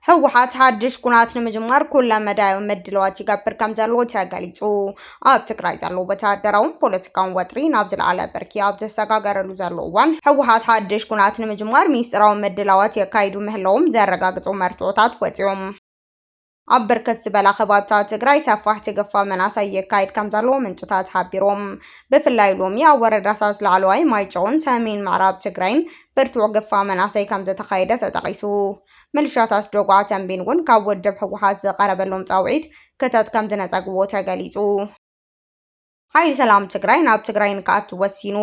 ህወሓት ሓድሽ ኩናት ንምጅማር ኩለ መዳያዊ ምድለዋት ይገብር ከም ዘሎ ተገሊጹ ኣብ ትግራይ ዘሎ ወተሃደራውን ፖለቲካውን ወጥሪ ናብ ዝለዓለ ብርኪ ኣብ ዘሰጋገረሉ ዘሎ እዋን ህወሓት ሓድሽ ኩናት ንምጅማር ሚስጢራዊ ምድላዋት የካይዱ ምህላዎም ዘረጋግጹ መርትዖታት ወፂኦም ኣብ ብርክት ዝበላ ከባብታት ትግራይ ሰፋሕ ትግፋ መናእሰይ የካይድ ከም ዘለዎ ምንጭታት ሓቢሮም። ብፍላይ ሎሚ ኣብ ወረዳታት ላዕለዋይ ማይጨውን ሰሜን ምዕራብ ትግራይን ብርቱዕ ግፋ መናእሰይ ከም ዝተኻየደ ተጠቒሱ። ምልሻታት ዶጓ ተንቤን እውን ካብ ውድብ ህወሓት ዝቐረበሎም ፃውዒት ክተት ከም ዝነፀግዎ ተገሊፁ። ሓይሊ ሰላም ትግራይ ናብ ትግራይ ንክኣቱ ወሲኑ።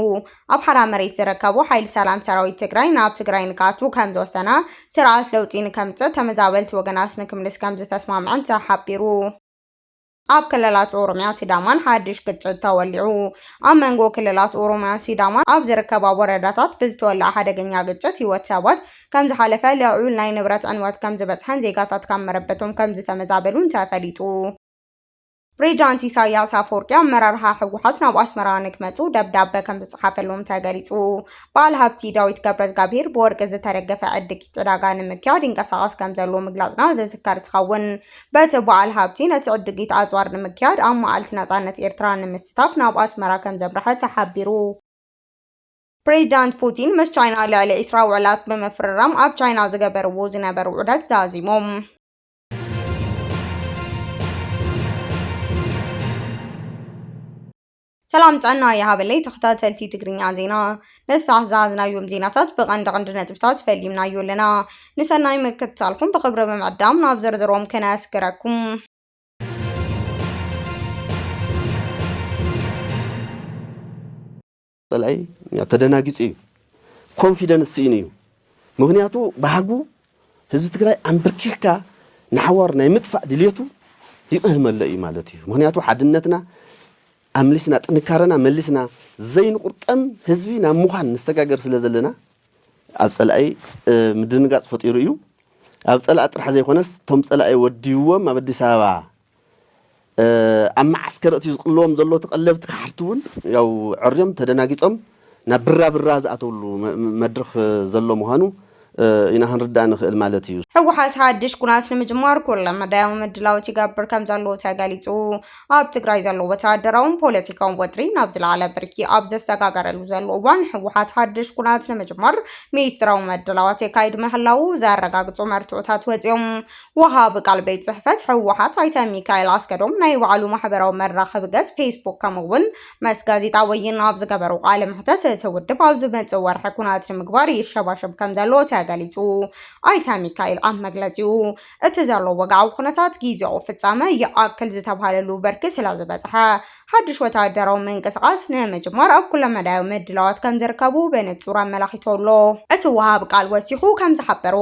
ኣብ ሓራ መሬት ዝርከቡ ሓይሊ ሰላም ሰራዊት ትግራይ ናብ ትግራይ ንክኣቱ ከምዝወሰነ፣ ስርዓት ለውጢ ንከምፅእ ተመዛበልቲ ወገናት ንክምልስ ከምዝተስማምዐን ተሓቢሩ። ኣብ ክልላት ኦሮሚያን ሲዳማን ሓድሽ ግጭት ተወሊዑ። ኣብ መንጎ ክልላት ኦሮሚያን ሲዳማን ኣብ ዝርከባ ወረዳታት ብዝተወልዐ ሓደገኛ ግጭት ህይወት ሰባት ከምዝሓለፈ፣ ልዑል ናይ ንብረት ዕንወት ከምዝበፅሐን ዜጋታት ካብ መረበቶም ከምዝተመዛበሉን ተፈሊጡ። ፕሬዚዳንት ኢሳያስ ኣፈወርቂ ኣመራርሓ ህወሓት ናብ ኣስመራ ንክመፁ ደብዳበ ከም ዝፀሓፈሎም ተገሊፁ። በዓል ሃብቲ ዳዊት ገብረዝጋብሄር ብወርቂ ዝተደገፈ ዕድጊት ዕዳጋ ንምክያድ ይንቀሳቐስ ከም ዘሎ ምግላፅና ዝዝከር እንትኸውን በቲ በዓል ሃብቲ ነቲ ዕድጊት ኣፅዋር ንምክያድ ኣብ መዓልቲ ናፃነት ኤርትራ ንምስታፍ ናብ ኣስመራ ከም ዘምርሐ ተሓቢሩ። ፕሬዚዳንት ፑቲን ምስ ቻይና ልዕሊ ዒስራ ውዕላት ብምፍርራም ኣብ ቻይና ዝገበርዎ ዝነበሩ ዑደት ዛዚሞም። ሰላም ጥዕና ይሃበለይ ተኸታተልቲ ትግርኛ ዜና ነሳሕ ዝሃዝናዮም ዜናታት ብቐንዲ ቐንዲ ነጥብታት ፈሊምናዮ ኣለና ንሰናይ ምክትታልኩም ብኽብሪ ብምዕዳም ናብ ዝርዝሮም ከነስገረኩም ጸላኢ ተደናጊጹ እዩ፣ ኮንፊደንስ ስኢኑ እዩ። ምኽንያቱ ባህጉ ህዝቢ ትግራይ ኣምብርኪኽካ ንሓዋሩ ናይ ምጥፋእ ድልየቱ ይቕህመሎ እዩ ማለት እዩ። ምኽንያቱ ሓድነትና ኣምሊስና ጥንካረና መሊስና ዘይንቑርጠም ህዝቢ ናብ ምዃን ንሰጋገር ስለ ዘለና ኣብ ጸላኢ ምድንጋጽ ፈጢሩ እዩ። ኣብ ጸላኢ ጥራሕ ዘይኮነስ እቶም ጸላኢ ወዲዎም ኣብ ኣዲስ ኣበባ ኣብ መዓስከር ኣእትዩ ዝቅልዎም ዘሎ ተቀለብቲ ከሓድቲ እውን ያው ዕርዮም ተደናጊጾም ናብ ብራ ብራ ዝኣተውሉ መድርኽ ዘሎ ምዃኑ ኢና ክንርዳእ ንኽእል ማለት እዩ። ህወሓት ሓድሽ ኩናት ንምጅማር ኩለ መዳያዊ ምድላዎት ይገብር ከምዘሎ ተገሊፁ። ኣብ ትግራይ ዘሎ ወተሃደራውን ፖለቲካውን ወጥሪ ናብ ዝለዓለ ብርኪ ኣብ ዘሰጋገረሉ ዘሎ እዋን ህወሓት ሓድሽ ኩናት ንምጅማር ሚስጥራዊ ምድላዋት የካይድ ምህላዉ ዘረጋግፁ መርትዖታት ወፂኦም ወሃቢ ቃል ቤት ጽሕፈት ህወሓት ኣይተ ሚካኤል ኣስገዶም ናይ ባዕሉ ማሕበራዊ መራኸቢ ገጽ ፌስቡክ ከምኡ'ውን መስ ጋዜጣ ወይን ኣብ ዝገበሩ ቃለ መሕተት እቲ ውድብ ኣብ ዝመጽእ ወርሒ ኩናት ንምግባር ይሸባሸብ ከም ዘሎ ተገሊጹ። ኣይተ ሚካኤል ኣብ መግለጺኡ እቲ ዘሎ ወግዓዊ ኩነታት ግዜኡ ፍጻመ ይኣክል ዝተብሃለሉ ብርኪ ስለዝበጽሐ ሓድሽ ወተሃደራዊ ምንቅስቓስ ንምጅማር ኣብ ኩለመዳያዊ ምድላዋት ከምዝርከቡ ብንጹር ኣመላኺቱ ኣሎ። እቲ ወሃቢ ቃል ወሲኹ ከምዝሓበሮ፣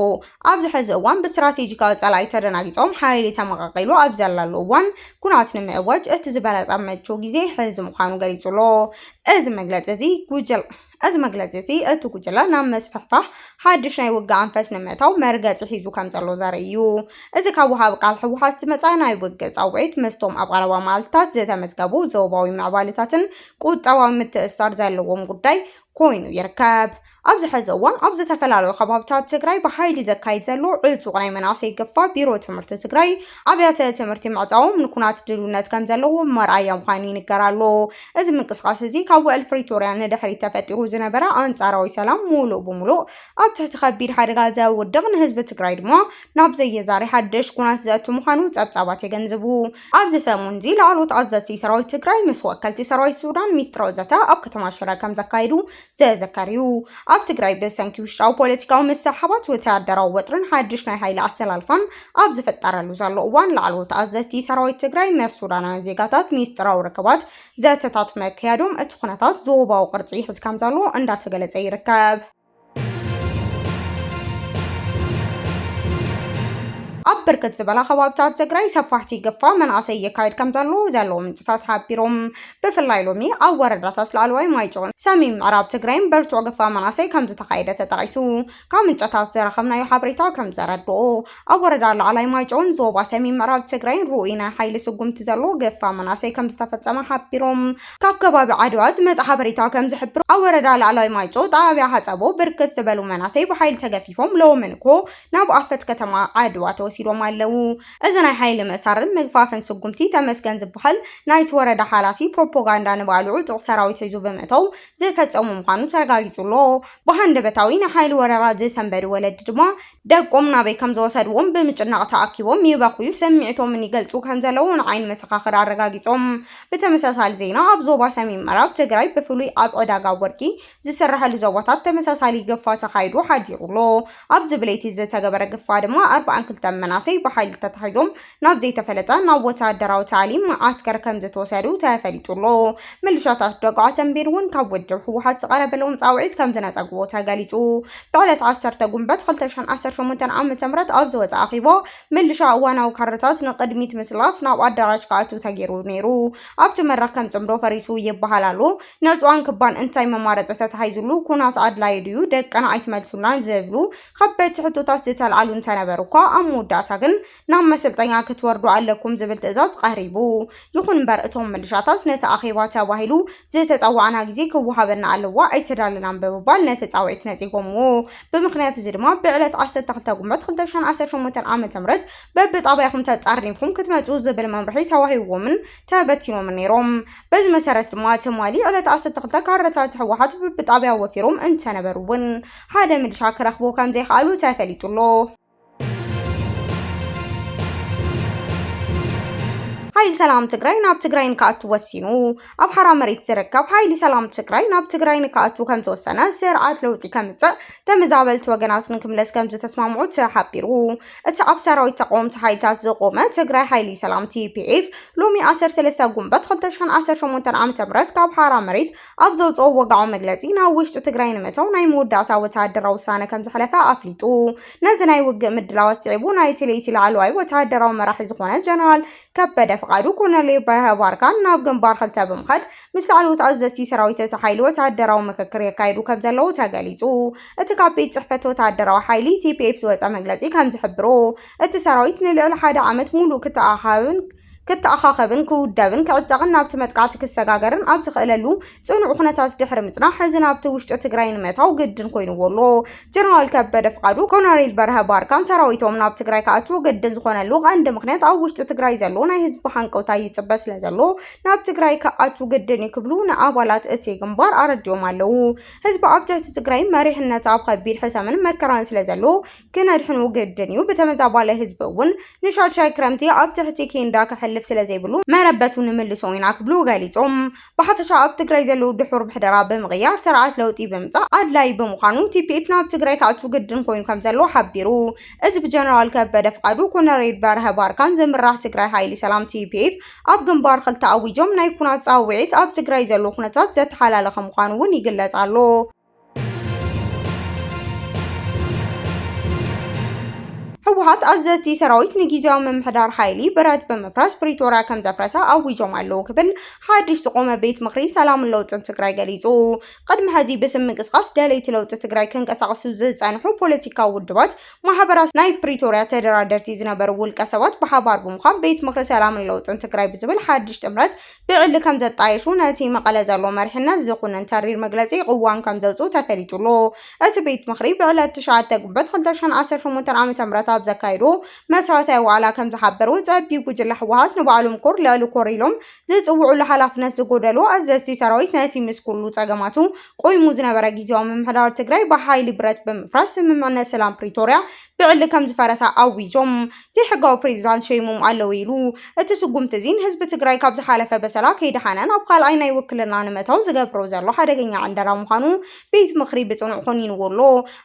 ኣብዚ ሕዚ እዋን ብስትራቴጂካዊ ጸላኢ ተደናጊጾም ሓይሊ ተመቓቒሉ ኣብ ዘለሉ እዋን ኩናት ንምእዋጅ እቲ ዝበለጸ ምቹእ ግዜ ሕዚ ምዃኑ ገሊጹ'ሎ። እዚ መግለጺ'ዚ ጉጅለ እዚ መግለጺ እዚ እቲ ጉጅለ ናብ ምስፍሕፋሕ ሓድሽ ናይ ውግእ ኣንፈት ንምእታው መርገጺ ሒዙ ከም ዘሎ ዘርኢ እዩ። እዚ ካብ ወሃቢ ቃል ህወሓት ዝመጽኣ ናይ ውግእ ጻውዒት ምስቶም ኣብ ቀረባ መዓልትታት ዝተመዝገቡ ዞባዊ ምዕባለታትን ቁጠባዊ ምትእስሳር ዘለዎም ጉዳይ ኮይኑ ይርከብ። ኣብዚ ሕዚ እዋን ኣብ ዝተፈላለዩ ከባብታት ትግራይ ብሓይሊ ዘካይድ ዘሎ ዕጡቕ ናይ መናእሰይ ግፋ ቢሮ ትምህርቲ ትግራይ ኣብያተ ትምህርቲ ምዕፃዎም ንኩናት ድልውነት ከም ዘለዎም መርኣያ ምዃኑ ይንገር ኣሎ። እዚ ምንቅስቓስ እዚ ካብ ውዕል ፕሪቶርያ ንድሕሪት ተፈጢሩ ዝነበረ ኣንፃራዊ ሰላም ሙሉእ ብሙሉእ ኣብ ትሕቲ ከቢድ ሓደጋ ዘውድቕ ንህዝቢ ትግራይ ድማ ናብ ዘየዛሪ ሓድሽ ኩናት ዘእቱ ምዃኑ ፀብፃባት የገንዝቡ። ኣብዚ ሰሙን እዚ ላዕለዎት ኣዘዝቲ ሰራዊት ትግራይ ምስ ወከልቲ ሰራዊት ሱዳን ሚስጥራዊ ዘተ ኣብ ከተማ ሽረ ከም ዘካየዱ ዘዘከር እዩ። ኣብ ትግራይ ብሰንኪ ውሽጣዊ ፖለቲካዊ ምስሕሓባት ወተሃደራዊ ወጥርን ሓድሽ ናይ ሓይሊ ኣሰላልፋን ኣብ ዝፍጠረሉ ዘሎ እዋን ላዕለዎት ኣዘዝቲ ሰራዊት ትግራይ ምስ ሱዳናውያን ዜጋታት ሚስጥራዊ ርክባት ዘተታት መካየዶም እቲ ኩነታት ዞባዊ ቅርጺ ይሕዝ ከም ዘሎ እንዳተገለጸ ይርከብ። ኣብ ብርክት ዝበላ ከባብታት ትግራይ ሰፋሕቲ ግፋ መናእሰይ ይካየድ ከም ዘሎ ዘለዎም ምንጭታት ሓቢሮም። ብፍላይ ሎሚ ኣብ ወረዳታት ላዕለዋይ ማይጨውን ሰሜን ምዕራብ ትግራይን በርቱዕ ግፋ መናእሰይ ከምዝተኻየደ ተጠቒሱ። ካብ ምንጨታት ዘረኸብናዮ ሓበሬታ ከምዘረድኦ፣ ኣብ ወረዳ ላዕላይ ማይጨውን ዞባ ሰሜን ምዕራብ ትግራይን ርኡይ ናይ ሓይሊ ስጉምቲ ዘለዎ ግፋ መናእሰይ ከምዝተፈፀመ ሓቢሮም። ካብ ከባቢ ዓድዋ ዝመፀ ሓበሬታ ከምዝሕብሮ፣ ኣብ ወረዳ ላዕለዋይ ማይጨው ጣብያ ሓፀቦ ብርክት ዝበሉ መናእሰይ ብሓይሊ ተገፊፎም ሎሚ ንግሆ ናብ ኣፈት ከተማ ዓድዋ ተወሲዶም ኣለው። እዚ ናይ ሓይሊ ምእሳርን ምግፋፍን ስጉምቲ ተመስገን ዝብሃል ናይቲ ወረዳ ሓላፊ ፕሮፖጋንዳ ንባዕሉ ዕጡቕ ሰራዊት ሒዙ ብምእታው ዝፈፀሞ ምዃኑ ተረጋጊፁ ኣሎ። ብሃንደበታዊ ናይ ሓይሊ ወረራ ዝሰንበዱ ወለዲ ድማ ደቆም ናበይ ከም ዝወሰድዎም ብምጭናቕ ተኣኪቦም ይበኽዩ ስምዒቶምን ይገልፁ ከም ዘለዉ ንዓይኒ መሰኻኽር ኣረጋጊፆም። ብተመሳሳሊ ዜና ኣብ ዞባ ሰሜን ምዕራብ ትግራይ ብፍሉይ ኣብ ዕዳጋ ወርቂ ዝስረሐሉ ዞባታት ተመሳሳሊ ግፋ ተኻይዱ ሓዲሩ ኣሎ። ኣብዚ ብለይቲ ዝተገበረ ግፋ ድማ ኣርብዓን ክልተን መናሰይ ብሓይሊ ተታሒዞም ናብ ዘይተፈለጠ ናብ ወተሃደራዊ ታዕሊም መዓስከር ከምዝተወሰዱ ተፈሊጡ ኣሎ። ምልሻታት ደግዓ ተምቤን እውን ካብ ውድብ ህወሓት ዝቐረበሎም ፃውዒት ከምዝነፀግዎ ተገሊፁ። ብዕለት ዓሰርተ ጉንበት ክልተ ሽሕን ዓሰርተ ሸሞንተን ዓመተ ምህረት ኣብ ዝወፀ ኣኼባ ምልሻ እዋናዊ ካድረታት ንቕድሚት ምስላፍ ናብ ኣዳራሽ ክኣትው ተገይሩ ነይሩ። ኣብቲ መድረኽ ከም ፅምዶ ፈሪሱ ይበሃል ኣሎ። ነጹዋን ክባን እንታይ መማረፂ ተታሂዙሉ ኩናት ኣድላዩ ድዩ ደቅና ኣይትመልሱልናን ዝብሉ ከበድቲ ሕቶታት ዝተልዓሉ እንተነበሩ እኳ ኣብ መወዳእታ ግን ናብ መሰልጠኛ ክትወርዱ ኣለኩም ዝብል ትእዛዝ ቐሪቡ ይኹን እምበር እቶም ምልሻታት ነቲ ኣኼባ ተባሂሉ ዝተጸዋዕና ግዜ ክወሃበና ኣለዎ ኣይተዳለናን ብምባል ነቲ ጻውዒት ነጺጎምዎ ብምኽንያት እዚ ድማ ብዕለት ዓሰርተ ክልተ ጉንበት ክልተ ሽሕን ዓሰርተ ሸሞንተን ዓመተ ምህረት በብጣብያኹም ተጻርኒፍኩም ክትመጹ ዝብል መምርሒ ተዋሂብዎምን ተበቲኖምን ነይሮም በዚ መሰረት ድማ ትማሊ ዕለት ዓሰርተ ክልተ ካድረታት ህወሓት ብብጣብያ ወፊሮም እንተነበሩ እውን ሓደ ምልሻ ክረኽቡ ከምዘይኸኣሉ ተፈሊጡ ኣሎ። ሓይሊ ሰላም ትግራይ ናብ ትግራይ ንክኣቱ ወሲኑ። ኣብ ሓራ መሬት ዝርከብ ሓይሊ ሰላም ትግራይ ናብ ትግራይ ንክኣቱ ከምዝወሰነ ስርዓት ለውጢ ከምፅእ ተመዛበልቲ ወገናት ንክምለስ ከምዝተስማምዑ ተሓቢሩ። እቲ ኣብ ሰራዊት ተቓወምቲ ሓይልታት ዝቖመ ትግራይ ሓይሊ ሰላም፣ TPF፣ ሎሚ ዓሰርተ ሰለስተ ጉንበት ክልተ ሽሕን ዓሰርተ ሸሞንተን ዓመተ ምህረት ካብ ሓራ መሬት ኣብ ዘውጽኦ ወግዓዊ መግለጺ ናብ ውሽጢ ትግራይ ንምእታው ናይ መወዳእታ ወተሃደራዊ ውሳነ ከምዘሕለፈ ኣፍሊጡ። ነዚ ናይ ውግእ ምድላዋት ስዒቡ ናይ እቲ ለይቲ ላዕለዋይ ወተሃደራዊ መራሒ ዝኾነ ጀነራል ከበደ ፍቓዱ፣ ኮሎኔል በርሀ ባርካን ናብ ግንባር ክልተ ብምኻድ ምስ ላዕለዎት ኣዘዝቲ ሰራዊት እቲ ሓይሊ ወተሃደራዊ ምክክር የካይዱ ከምዘለዉ ተገሊጹ። እቲ ካብ ቤት ጽሕፈት ወተሃደራዊ ሓይሊ ቲፒኤፍ ዝወጸ መግለጺ ከም ዝሕብሮ፣ እቲ ሰራዊት ንልዕሊ ሓደ ዓመት ምሉእ ክተኣኻኸብን ክተኣኻኸብን፣ ክውደብን ክዕጠቕን ናብቲ መጥቃዕቲ ክሰጋገርን ኣብ ዝኽእለሉ ጽኑዕ ኩነታት ድሕሪ ምጽናሕ፣ ሕዚ ናብቲ ውሽጢ ትግራይ ንምእታው ግድን ኮይኑዎ ኣሎ። ጀነራል ከበደ ፍቓዱ፣ ኮነሬል በርሀ ባርካን ሰራዊቶም ናብ ትግራይ ክኣትዉ ግድን ዝኾነሉ ቀንዲ ምኽንያት ኣብ ውሽጢ ትግራይ ዘሎ ናይ ህዝቢ ሃንቀውታ ይጽበ ስለዘሎ ናብ ትግራይ ክኣትዉ ግድን እዩ ክብሉ ንኣባላት እቲ ግንባር ኣረዲኦም ኣለዉ። ህዝቢ ኣብ ትሕቲ ትግራይ መሪሕነት ኣብ ከቢድ ሕሰምን መከራን ስለ ዘሎ ክነድሕኑ ግድን እዩ። ብተመዛባላይ ህዝቢ እውን ንሻድሻይ ክረምቲ ኣብ ትሕቲ ኬንዳ ከሕልፍ ስለ ዘይብሉ መረበቱ ንምልሶ ኢና ክብሉ ገሊፆም። ብሓፈሻ ኣብ ትግራይ ዘለው ድሑር ምሕደራ ብምቕያር ስርዓት ለውጢ ብምምፃእ ኣድላዪ ብምዃኑ ቲፒኤፍ ናብ ትግራይ ክኣቱ ግድን ኮይኑ ከም ዘሎ ሓቢሩ። እዚ ብጀነራል ከበደ ፍቃዱ፣ ኮነሬል በርሀ ባርካን ዝምራሕ ትግራይ ሃይሊ ሰላም፣ ቲፒኤፍ፣ ኣብ ግንባር ክልተ ኣዊጆም ናይ ኩናት ፃውዒት ኣብ ትግራይ ዘሎ ኩነታት ዘተሓላለኸ ምዃኑ እውን ይግለፅ ኣሎ። ህወሓት ኣዘዝቲ ሰራዊት ንጊዜያዊ ምምሕዳር ሓይሊ ብረት ብምፍራስ ፕሪቶርያ ከም ዘፍረሰ ኣዊጆም ኣለዉ ክብል ሓድሽ ዝቖመ ቤት ምኽሪ ሰላምን ለውጥን ትግራይ ገሊፁ። ቅድሚ ሕዚ ብስም ምንቅስቓስ ደለይቲ ለውጢ ትግራይ ክንቀሳቐሱ ዝፀንሑ ፖለቲካዊ ውድባት ማሕበራት ናይ ፕሪቶርያ ተደራደርቲ ዝነበሩ ውልቀ ሰባት ብሓባር ብምዃን ቤት ምኽሪ ሰላምን ለውጥን ትግራይ ብዝብል ሓድሽ ጥምረት ብዕሊ ከም ዘጣየሹ ነቲ መቐለ ዘሎ መሪሕነት ዝኹንን ተሪር መግለፂ ቕዋም ከም ዘውፅኡ ተፈሊጡ ኣሎ። እቲ ቤት ምኽሪ ብዕለት ትሽዓተ ግንቦት ክልተ ሽሕን ዓሰርተ ሸሞንተን ዓመተ ምህረት ኣብ ዘካየዶ መስረታዊ ዋዕላ ከም ዝሓበሮ ፀቢብ ጉጅለ ህወሓት ንባዕሎም ኮር ልዕሊ ኮር ኢሎም ዝጽውዑሉ ሓላፍነት ዝጎደሎ ኣዘዝቲ ሰራዊት ነቲ ምስ ኩሉ ጸገማቱ ቆይሙ ዝነበረ ግዝያዊ ምምሕዳር ትግራይ ብሓይሊ ብረት ብምፍራስ ስምምዕነት ሰላም ፕሪቶርያ ብዕሊ ከም ዝፈረሰ ኣዊጆም ዘይሕጋዊ ፕሬዚዳንት ሸይሞም ኣለዉ ኢሉ። እቲ ስጉምቲ እዚ ንህዝቢ ትግራይ ካብ ዝሓለፈ በሰላ ከይደሓነ ናብ ካልኣይ ናይ ውክልና ንምእታው ዝገብሮ ዘሎ ሓደገኛ ዕንደራ ምዃኑ ቤት ምኽሪ ብጽኑዕ ኮኒንዎ ኣሎ።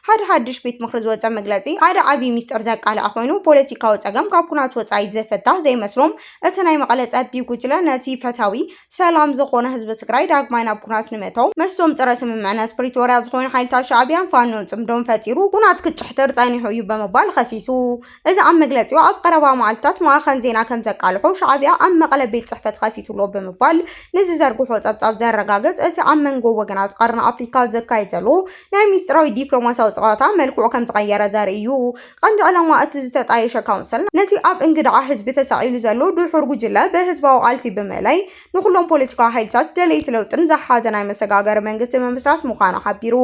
ሓደ ሓድሽ ቤት ምኽሪ ዝወጸ መግለጺ ሓደ ዓብዪ ሚስጥር ዘቃልዐ ኮይኑ ፖለቲካዊ ጸገም ካብ ኩናት ወጻኢ ዝፍታህ ዘይመስሎም እቲ ናይ መቐለ ጸቢ ጉጅለ ነቲ ፈታዊ ሰላም ዝኾነ ህዝቢ ትግራይ ዳግማይ ናብ ኩናት ንምእታው ምስቶም ጸረ ስምምዕነት ፕሪቶርያ ዝኾኑ ሓይልታት ሻዕብያን ፋኖን ጽምዶን ፈጢሩ ኩናት ክጭሕትር ጸኒሑ እዩ ብምባል ኸሲሱ። እዚ ኣብ መግለጺኡ ኣብ ቐረባ መዓልትታት ማእኸን ዜና ከምዘቃልሖ ሻዕብያ ኣብ መቐለ ቤት ጽሕፈት ኸፊቱ ኣሎ ብምባል ንዝዘርግሖ ጸብጻብ ዘረጋግጽ እቲ ኣብ መንጎ ወገናት ቐርኒ ኣፍሪካ ዝካየድ ዘሎ ናይ ሚስጢራዊ ዲፕሎማሲያዊ ጸዋታ መልክዑ ከምዝቐየረ ዘርኢ እዩ። ቀንዲ ዕላማ እቲ ዝተጣየሸ ካውንስል፣ ነቲ ኣብ እንግድዓ ህዝቢ ተሰቒሉ ዘሎ ድሑር ጉጅለ ብህዝባዊ ቃልሲ ብምእላይ፣ ንኹሎም ፖለቲካዊ ሓይልታት ደለይቲ ለውጥን ዝሓዘ ናይ መሰጋገሪ መንግስቲ ምምስራት ምዃኑ ሓቢሩ።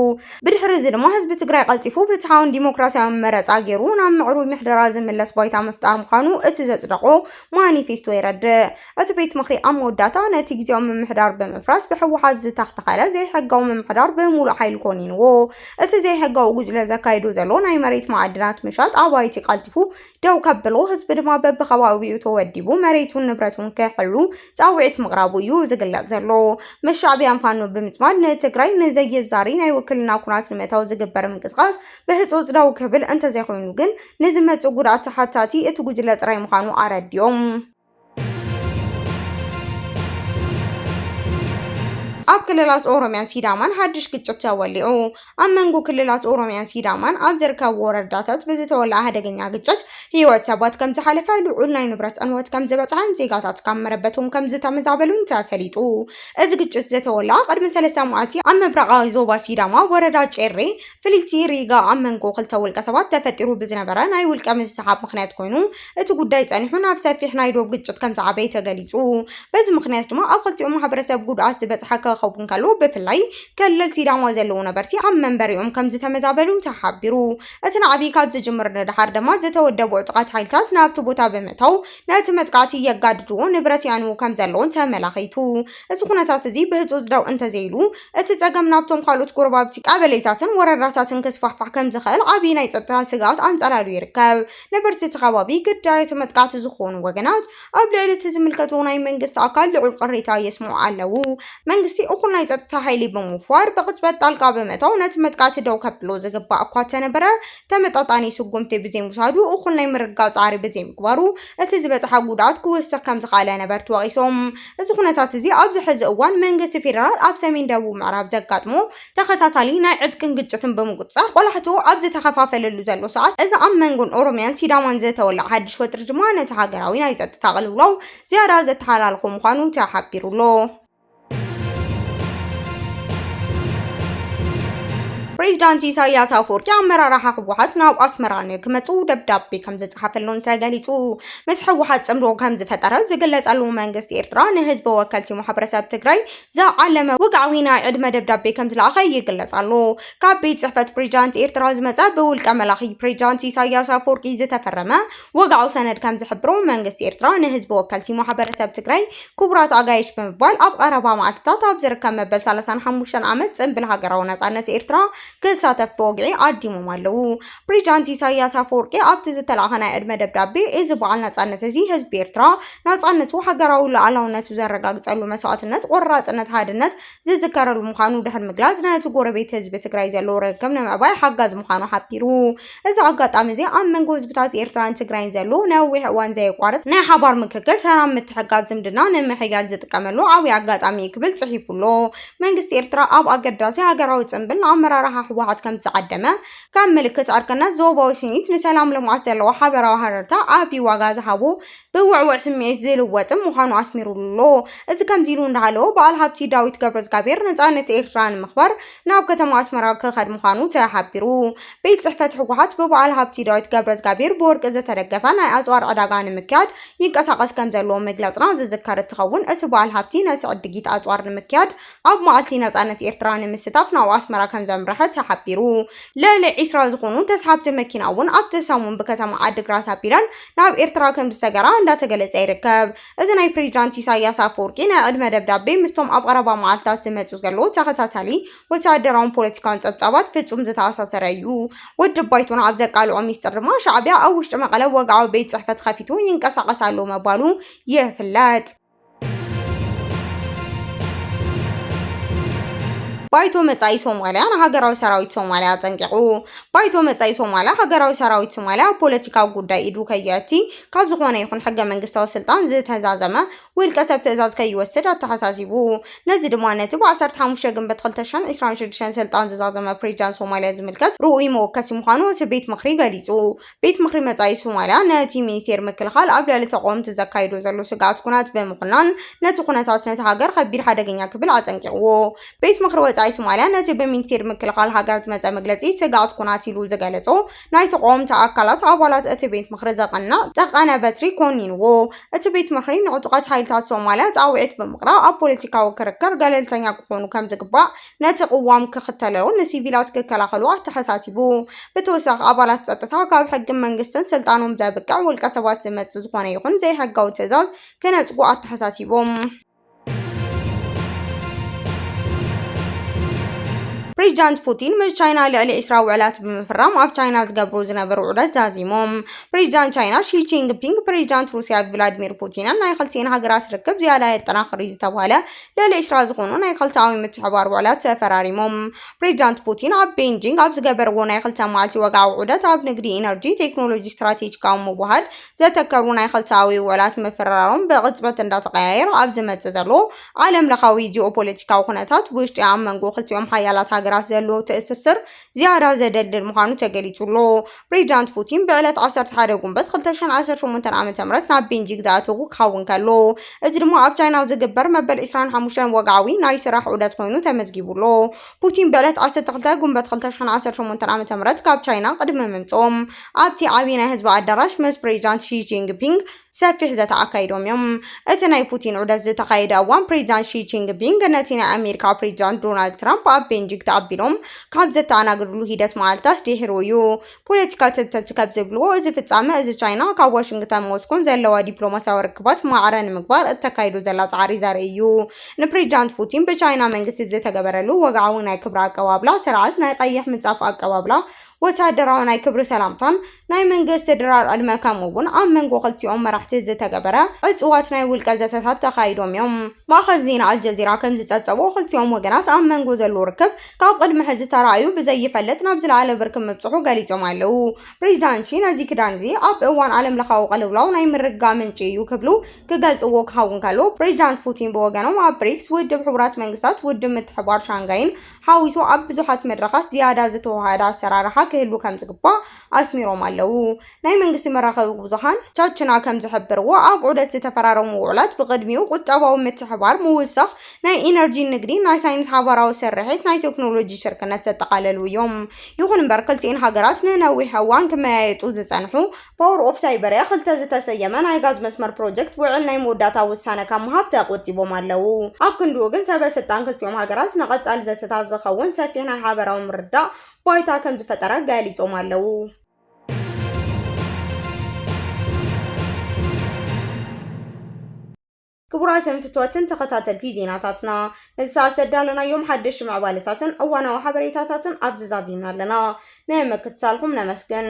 ብድሕሪ እዚ ድማ ህዝቢ ትግራይ ቀልጢፉ ፍትሓውን ዲሞክራሲያውን መረፃ ገይሩ ናብ ምዕሩይ ምሕደራ ዝምለስ ባይታ ምፍጣር ምዃኑ እቲ ዘፅደቖ ማኒፌስቶ የረድእ። እቲ ቤት ምኽሪ ኣብ መወዳእታ ነቲ ግዝያዊ ምምሕዳር ብምፍራስ ብሕወሓት ዝተኽተኸለ ዘይሕጋዊ ምምሕዳር ብምሉእ ሓይሉ ኮኒንዎ። እቲ ዘይሕጋዊ ጉጅለ ዘካይዶ ዘሎ ናይ መሬት መዓድናት ምሻጥ ኣባይቲ ቀልጢፉ ደው ከብሎ ህዝቢ ድማ በቢከባቢኡ ተወዲቡ መሬቱን ንብረቱን ክሕሉ ፃውዒት ምቕራቡ እዩ ዝግለፅ ዘሎ። ምስ ሻዕቢያን ፋኖ ብምፅማድ ንትግራይ ንዘየዛሪ ናይ ውክልና ኩናት ንምእታው ዝግበር ምንቅስቓስ ብህፁፅ ደው ክብል እንተዘይኮይኑ ግን ንዝመፅእ ጉድኣት ተሓታቲ እቲ ጉጅለ ጥራይ ምዃኑ ኣረዲኦም። ኣብ ክልላት ኦሮምያን ሲዳማን ሓድሽ ግጭት ተወሊዑ። ኣብ መንጎ ክልላት ኦሮምያን ሲዳማን ኣብ ዝርከቡ ወረዳታት ብዝተወልዐ ሓደገኛ ግጭት ህይወት ሰባት ከም ዝሓለፈ፣ ልዑል ናይ ንብረት ዕንወት ከም ዝበፅሐን ዜጋታት ካብ መረበቶም ከም ዝተመዛበሉን ተፈሊጡ። እዚ ግጭት ዝተወልዐ ቅድሚ ሰለስተ መዓልቲ ኣብ ምብራቓዊ ዞባ ሲዳማ ወረዳ ጬሬ ፍልልቲ ሪጋ ኣብ መንጎ ክልተ ውልቀሰባት ተፈጢሩ ብዝነበረ ናይ ውልቀ ምስሕሓብ ምኽንያት ኮይኑ እቲ ጉዳይ ፀኒሑ ናብ ሰፊሕ ናይ ዶብ ግጭት ከምዝዓበየ ተገሊፁ። በዚ ምኽንያት ድማ ኣብ ክልቲኦም ማሕበረሰብ ጉድኣት ዝበፅሐ ከኸውን ከሎ ብፍላይ ከለል ሲዳማ ዘለዉ ነበርቲ ኣብ መንበሪኦም ከምዝተመዛበሉ ተሓቢሩ። እቲ ናዕቢ ካብ ዝጅምር ንደሓር ደማ ዝተወደቡ ዕጡቓት ሓይልታት ናብቲ ቦታ ብምእታው ነቲ መጥቃዕቲ የጋድድዎ ንብረት የዕንዉ ከምዘለዉን ተመላኺቱ። እዚ ኩነታት እዚ ብህፁፅ ደው እንተዘይሉ እቲ ጸገም ናብቶም ካልኦት ጎረባብቲ ቀበሌታትን ወረዳታትን ክስፋሕፋሕ ከም ዝኽእል ዓብዪ ናይ ጸጥታ ስግኣት ኣንጸላልዩ ይርከብ። ነበርቲ እቲ ከባቢ ግዳይ እቲ መጥቃዕቲ ዝዀኑ ወገናት ኣብ ልዕሊ እቲ ዝምልከቶ ናይ መንግስቲ ኣካል ልዑል ቅሬታ የስምዑ ኣለዉ። መንግስቲ እኹል ናይ ጸጥታ ሓይሊ ብምውፋር ብቕጽበት ጣልቃ ብምእታው ነቲ መጥቃዕቲ ደው ከብሎ ዝግባእ እኳ እተነበረ ተመጣጣኒ ስጉምቲ ብዘይምውሳዱ እኹል ናይ ምርግጋእ ጻዕሪ ብዘይምግባሩ እቲ ዝበጽሓ ጉድኣት ክውስኽ ከም ዝኸኣለ ነበርቲ ወቒሶም። እዚ ኩነታት እዚ ኣብዚ ሕዚ እዋን መንግስቲ ፌደራል ኣብ ሰሜን ደቡብ ምዕራብ ዘጋጥሞ ተኸታታሊ ናይ ዕጥቅን ግጭትን ብምቁፅፃር ቆላሕትኡ ኣብ ዝተኸፋፈለሉ ዘሎ ሰዓት እዚ ኣብ መንጎን ኦሮሚያን ሲዳማን ዝተወልዐ ሓዱሽ ወጥሪ ድማ ነቲ ሃገራዊ ናይ ፀጥታ ቅልውላው ዝያዳ ዘተሓላልኾ ምዃኑ ተሓቢሩ ኣሎ። ፕሬዚዳንት ኢሳይያስ ኣፈወርቂ ኣመራርሓ ህወሓት ናብ ኣስመራ ንክመፅኡ ደብዳቤ ከምዝፀሓፈሎም ተገሊፁ። ምስ ህወሓት ፅምዶ ከምዝፈጠረ ዝግለፀሉ መንግስቲ ኤርትራ ንህዝቢ ወከልቲ ማሕበረሰብ ትግራይ ዝዓለመ ውግዓዊ ናይ ዕድመ ደብዳቤ ከምዝለኣኸ ይግለፅ ኣሎ። ካብ ቤት ፅሕፈት ፕሬዚዳንት ኤርትራ ዝመፀ ብውልቀ መላኺ ፕሬዚዳንት ኢሳይያስ ኣፈወርቂ ዝተፈረመ ወግዓዊ ሰነድ ከምዝሕብሮ መንግስቲ ኤርትራ ንህዝቢ ወከልቲ ማሕበረሰብ ትግራይ ክቡራት ኣጋይሽ ብምባል ኣብ ቐረባ መዓልትታት ኣብ ዝርከብ መበል ሰላሳን ሓሙሽተን ዓመት ፅምብል ሃገራዊ ነፃነት ኤርትራ ክሳተፍ ብወግዒ ዓዲሞም ኣለዉ። ፕሬዚዳንት ኢሳይያስ ኣፈወርቂ ኣብቲ ዝተላእከ ናይ ዕድመ ደብዳቤ፣ እዚ በዓል ናጻነት እዚ ህዝቢ ኤርትራ ናጻነቱ፣ ሃገራዊ ሉኣላውነቱ ዘረጋግጸሉ መስዋእትነት፣ ቆራጽነት፣ ሓድነት ዝዝከረሉ ምዃኑ ድሕሪ ምግላጽ፣ ነቲ ጎረቤት ህዝቢ ትግራይ ዘለዎ ርክብ ንምዕባይ ሓጋዚ ምዃኑ ሓቢሩ። እዚ ኣጋጣሚ እዚ ኣብ መንጎ ህዝብታት ኤርትራን ትግራይን ዘሎ ነዊሕ እዋን ዘየቋርጽ ናይ ሓባር ምክክር፣ ሰላም፣ ምትሕግጋዝ፣ ዝምድና ንምሕያል ዝጥቀመሉ ዓብይ ኣጋጣሚ እዩ ክብል ጽሒፉ'ሎ። መንግስቲ ኤርትራ ኣብ ኣገዳሲ ሃገራዊ ጽንብል ንኣመራርሓ ህወሓት ከምዝዓደመ፣ ከም ምልክት ዕርቅነት ዞባዊ ስኒት ንሰላም ልምዓት ዘለዎ ሓበራዊ ሃረርታ ዓቢ ዋጋ ዝሃቦ ብውዕዉዕ ስምዒት ዝልወጥም ምዃኑ ኣስሚሩሉ'ሎ። እዚ ከምዚ ኢሉ እንዳሃለወ በዓል ሃብቲ ዳዊት ገብረዝጋብሄር ነጻነት ኤርትራ ንምኽባር ናብ ከተማ ኣስመራ ክኸድ ምዃኑ ተሓቢሩ። ቤት ጽሕፈት ህወሓት ብበዓል ሃብቲ ዳዊት ገብረዝጋብሄር ብወርቂ ዝተደገፈ ናይ ኣጽዋር ዕዳጋ ንምክያድ ይንቀሳቐስ ከምዘሎ ምግለጽና ዝዝከር እትኸውን እቲ በዓል ሃብቲ ነቲ ዕድጊት ኣጽዋር ንምክያድ ኣብ መዓልቲ ነጻነት ኤርትራ ንምስታፍ ናብ ኣስመራ ከምዘምረሐ ተሓቢሩ። ልዕሊ ዒስራ ዝኾኑ ተስሓብቲ መኪና እውን ኣብቲ ሰሙን ብከተማ ዓዲግራት ኣቢለን ናብ ኤርትራ ከምዝሰገራ እንዳተገለጸ ይርከብ። እዚ ናይ ፕሬዚዳንት ኢሳይያስ ኣፈወርቂ ናይ ዕድመ ደብዳቤ ምስቶም ኣብ ቐረባ መዓልታት ዝመጽእ ዘሎ ተኸታታሊ ወተሃደራውን ፖለቲካውን ጸብጻባት ፍጹም ዝተኣሳሰረ እዩ። ውድብ ባይቶና ኣብ ዘቃልዖ ሚስጥር ድማ ሻዕቢያ ኣብ ውሽጢ መቐለ ወግዓዊ ቤት ጽሕፈት ኸፊቱ ይንቀሳቐስ ኣሎ ምባሉ ይፍለጥ። ባይቶ መጻኢ ሶማልያ ንሃገራዊ ሰራዊት ሶማልያ ኣጸንቂቑ። ባይቶ መጻኢ ሶማልያ ሃገራዊ ሰራዊት ሶማልያ ኣብ ፖለቲካዊ ጉዳይ ኢዱ ከየእቲ፣ ካብ ዝኾነ ይኹን ሕገ መንግስታዊ ስልጣን ዝተዛዘመ ውልቀ ሰብ ትእዛዝ ከይወስድ ኣተሓሳሲቡ። ነዚ ድማ ነቲ ብ ዓሰርተ ሓሙሽተ ግንቦት ክልተ ሽሕን ዕስራን ሽዱሽተን ስልጣን ዝዛዘመ ፕሬዚዳንት ሶማልያ ዝምልከት ርኡይ መወከሲ ምዃኑ እቲ ቤት ምኽሪ ገሊጹ። ቤት ምኽሪ መጻኢ ሶማልያ ነቲ ሚኒስቴር ምክልኻል ኣብ ልዕሊ ተቓወምቲ ዘካይዶ ዘሎ ስግኣት ኵናት ብምዅናን ነቲ ኵነታት ነታ ሃገር ኸቢድ ሓደገኛ ክብል ኣጠንቂቕዎ። ቤት ምኽሪ ወጻኢ ሶማልያ ነቲ ብሚኒስቴር ምክልኻል ሃገር ዝመጸ መግለጺ ስግኣት ኵናት ኢሉ ዝገለጾ ናይ ተቓወምቲ ኣካላት ኣባላት እቲ ቤት ምኽሪ ዘቐንዕ ጠቀነ በትሪ ኰኒንዎ። እቲ ቤት ምኽሪ ንዕጡቓት ሓይልታት ሶማልያ ጻውዒት ብምቕራብ ኣብ ፖለቲካዊ ክርክር ገለልተኛ ክዀኑ ከም ዝግባእ ነቲ ቅዋም ክኽተለሉ ንሲቪላት ክከላኸሉ ኣተሓሳሲቡ። ብተወሳኺ ኣባላት ጸጥታ ካብ ሕግን መንግስትን ስልጣኖም ዘብቅዕ ውልቀ ሰባት ዝመጽእ ዝኾነ ይኹን ዘይሕጋዊ ትእዛዝ ክነጽጉ ኣተሓሳሲቦም። ፕሬዚዳንት ፑቲን ምስ ቻይና ልዕሊ ዒስራ ውዕላት ብምፍራም ኣብ ቻይና ዝገብሩ ዝነበሩ ዑደት ዛዚሞም። ፕሬዚዳንት ቻይና ሺ ጂንፒንግ ፕሬዚዳንት ሩሲያ ቭላድሚር ፑቲንን ናይ ክልቲኤን ሃገራት ርክብ ዝያዳ የጠናኽር እዩ ዝተብሃለ ልዕሊ ዕስራ ዝኾኑ ናይ ክልተኣዊ ምትሕብባር ውዕላት ተፈራሪሞም። ፕሬዚዳንት ፑቲን ኣብ ቤይጂንግ ኣብ ዝገበርዎ ናይ ክልተ መዓልቲ ወግዓዊ ዑደት ኣብ ንግዲ፣ ኢነርጂ፣ ቴክኖሎጂ፣ ስትራቴጂካዊ ምውህሃድ ዘተከሩ ናይ ክልተኣዊ ውዕላት ምፍርራሮም ብቕፅበት እንዳተቐያየረ ኣብ ዝመፅእ ዘሎ ዓለም ለኻዊ ጂኦፖለቲካዊ ኩነታት ብውሽጢ ኣብ መንጎ ክልቲኦም ሓያላት ሃገራት ዘሎ ትእስስር ዝያዳ ዘደልድል ምዃኑ ተገሊጹ'ሎ። ፕሬዚዳንት ፑቲን ብዕለት ዓሰርተ ሓደ ጉንበት ክልተ ሽሕን ዓሰርተ ሸሞንተን ዓመተ ምህረት ናብ ቤንጂግ ዝኣተዉ ክኸውን ከሎ፣ እዚ ድማ ኣብ ቻይና ዝግበር መበል ዕስራን ሓሙሽተን ወግዓዊ ናይ ስራሕ ዑደት ኮይኑ ተመዝጊቡ'ሎ። ፑቲን ብዕለት ዓሰርተ ክልተ ጉንበት ክልተ ሽሕን ዓሰርተ ሸሞንተን ዓመተ ምህረት ካብ ቻይና ቅድሚ ምምጽኦም፣ ኣብቲ ዓቢ ናይ ህዝቢ ኣዳራሽ ምስ ፕሬዚዳንት ሺ ጂንፒንግ ሰፊሕ ዘተ ኣካይዶም እዮም። እቲ ናይ ፑቲን ዑደት ዝተኻየደ እዋን ፕሬዚዳንት ሺ ጂንግፒንግ ነቲ ናይ ኣሜሪካ ፕሬዚዳንት ዶናልድ ትራምፕ ኣብ ቤንጂግ ተቐቢሎም ካብ ዘተኣናግድሉ ሂደት መዓልታት ድሒሩ እዩ። ፖለቲካ ተንተንቲ ከምዝብልዎ እዚ ፍፃመ እዚ ቻይና ካብ ዋሽንግተንን ሞስኮን ዘለዋ ዲፕሎማሲያዊ ርክባት ማዕረ ንምግባር እተካይዶ ዘላ ፃዕሪ ዘርኢ እዩ። ንፕሬዚዳንት ፑቲን ብቻይና መንግስቲ ዝተገበረሉ ወግዓዊ ናይ ክብሪ ኣቀባብላ ስርዓት ናይ ቀይሕ ምንፃፍ ኣቀባብላ ወተሃደራዊ ናይ ክብሪ ሰላምታን ናይ መንግስቲ ድራር ዕድመ ከምኡ ውን ኣብ መንጎ ክልቲኦም መራሕቲ ዝተገበረ ዕጹዋት ናይ ውልቀ ዘተታት ተኻይዶም እዮም። ማእኸል ዜና ኣልጀዚራ ከምዝፀብፀቦ ክልቲኦም ወገናት ኣብ መንጎ ዘሎ ርክብ ካብ ቕድሚ ሕዚ ተራእዩ ብዘይፈልጥ ናብ ዝለዓለ ብርኪ ምብፅሑ ገሊፆም ኣለው። ፕሬዚዳንት ሺ ነዚ ክዳን እዚ ኣብ እዋን ዓለም ለኻዊ ቕልውላው ናይ ምርግጋእ ምንጪ እዩ ክብሉ ክገልፅዎ ክኸውን ከሎ ፕሬዚዳንት ፑቲን ብወገኖም ኣብ ብሪክስ፣ ውድብ ሕቡራት መንግስታት፣ ውድብ ምትሕብባር ሻንጋይን ሓዊሱ ኣብ ብዙሓት መድረኻት ዝያዳ ዝተወሃሃደ ኣሰራርሓ ክህሉ ከምዝግባእ ኣስሚሮም ኣለው። ናይ መንግስቲ መራኸቢ ብዙሃን ቻችና ከምዝሕብርዎ ኣብ ዑደት ዝተፈራረሙ ውዑላት ብቕድሚኡ ቁጠባዊ ምትሕብባር፣ ምውሳኽ ናይ ኢነርጂን ንግዲ፣ ናይ ሳይንስ ሓባራዊ ስርሒት፣ ናይ ቴክኖሎጂ ሽርክነት ዘጠቓለሉ እዮም። ይኹን እምበር ክልቲኤን ሃገራት ንነዊሕ እዋን ክመያየጡ ዝፀንሑ ፓወር ኦፍ ሳይበርያ ክልተ ዝተሰየመ ናይ ጋዝ መስመር ፕሮጀክት ውዕል ናይ መወዳእታ ውሳነ ካብ ምሃብ ተቖጢቦም ኣለዉ። ኣብ ክንድኡ ግን ሰበ ስልጣን ክልቲኦም ሃገራት ንቐፃሊ ዘተታት ዝኸውን ሰፊሕ ናይ ሓበራዊ ምርድዳእ ባይታ ከምዝፈጠረ ገሊፆም ኣለዉ። ክቡራት ሰንፍትዋትን ተኸታተልቲ ዜናታትና፣ ነዚ ሰዓት ዘዳለናዮም ሓደሽቲ ምዕባለታትን እዋናዊ ሓበሬታታትን ኣብዚ ዛዚምና ኣለና። ንምክትታልኩም ነመስግን።